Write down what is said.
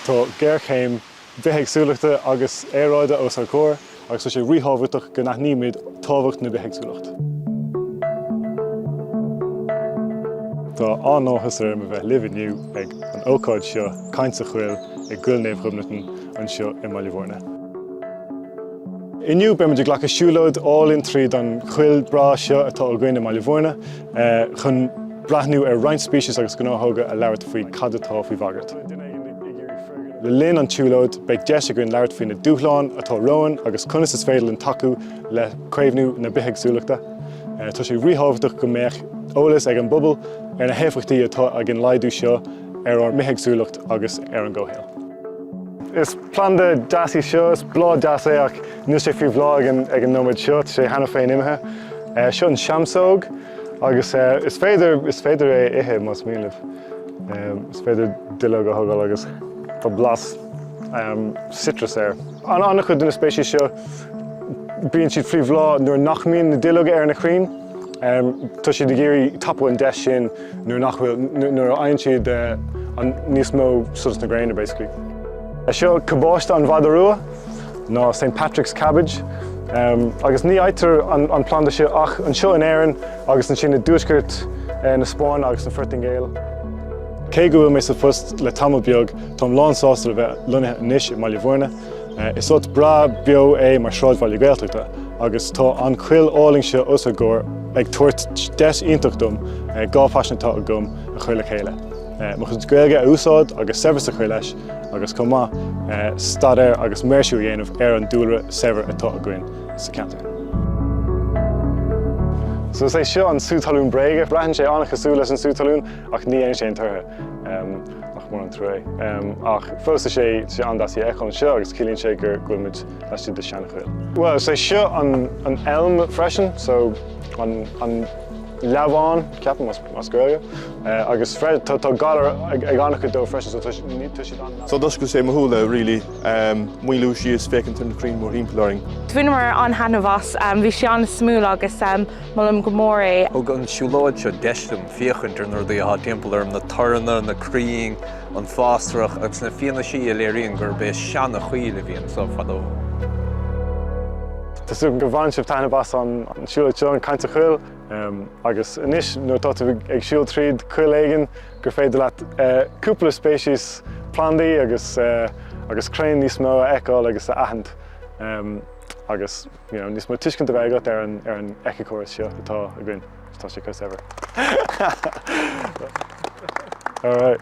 Tá géarchéim bhithéagsúlachta agus aeráide os ár gcomhair agus tá sé ríthábhachtach go n-aithnímid tábhacht na bithéagsúlachta. Tá an-áthas orm a bheith libh inniu ag an ócáid seo, Caint sa Choill, i gCoill Naomh Ghobnatan anseo i mBaile Bhúirne. Inniu beimid ag glacadh siúlóid álainn tríd an choill breá seo atá againn i mBaile Bhúirne. chun breathnú ar roinnt speiceas agus gnáthóga, ag labhairt faoi cad atá faoi bhagairt. Le linn an tsiúlóid, beidh deis againn labhairt faoi na dúshláin atá romhainn agus conas is féidir linn tacú le caomhnú na bithéagsúlachta. Tá sé ríthábhachtach go mbeadh eolas ag an bpobal ar na héifeachtaí atá ag an laghdú seo ar ár mbithéagsúlacht agus ar an gcomhshaol. Is planda deas í seo, is bláth deas é ach Níl sé faoi bhláth ag an nóiméad seo, tá sé cheana féin imithe. Seo an seamsóg agus is féidir is féidir é ithe más mian libh. Is féidir duilleog a thogáil agus tá blas citrus air. An an-chuid de na speicis seo bíonn siad faoi bhláth nuair nach mbíonn na duilleoga ar na crainn. Tá siad ag iarraidh tapú an deis sin nuair nach bhfuil nuair a fhaigheann siad níos mó solas na gréine basically. Seo cabáiste an mhada rua. nó Saint Patrick's Cabbage, agus ní fhaightear an planda seo ach anseo in Éirinn agus ansin i dtuaisceart na Spáinne agus an Phortaingéil. Cé go bhfuil mé sa phost le tamall beag, táim lánsásta a bheith lonnaithe anois i mBaile Bhúirne. Is áit breá beo é mar sráidbhaile Gaeltachta agus tá an choill álainn seo os ár gcomhair ag tabhairt deis iontach dom dhá phaisean atá agam a chur le chéile. Mo chuid Gaeilge a úsáid agus saibhreas a chur leis agus chomh maith, staidéar agus maoirsiú a dhéanamh ar an dúlra saibhir atá againn sa cheantar. So is é seo an sú talún bréige. Breathnaíonn sé an-chosúil leis an sú talún ach ní dhéanann sé aon torthaí, nach mór an trua é. Ach fós tá sé an-deas í a fheiceáil anseo agus ciallaíonn sé go bhfuil muid laistigh de seanchoill. Bhuel, is é seo an elm freisin, so an leamhán, ceapaim, as Gaeilge. Agus tá galar ag an-chuid dóibh freisin so tá siad an-. So d'oscail sé mo shúile really. Maolú síos, féachaint ar na crainn mórthimpeall orainn. Bhaineamar an-taitneamh as, bhí sé an-suimiúil agus molaim go mór é. Thug an siúlóid seo deis dom féachaint ar na rudaí atá timpeall orm, na toranna, na crainn, an fásrach agus na fianaisí a léiríonn gurb é seanachoill a bhí anso fadó. Tá súil agam go mbain sibh taitneamh as an siúlóid seo, an Caint sa Choill. Agus anois, nuair atá tú ag siúl tríd coill éigin gur féidir leat cúpla speiceas plandaí agus agus crainn níos mó a fheiceáil agus a aithint. agus you know, níos mó tuiscint a bheith agat ar an ar an éiceachóras seo atá againn tá sé cos ever. All right.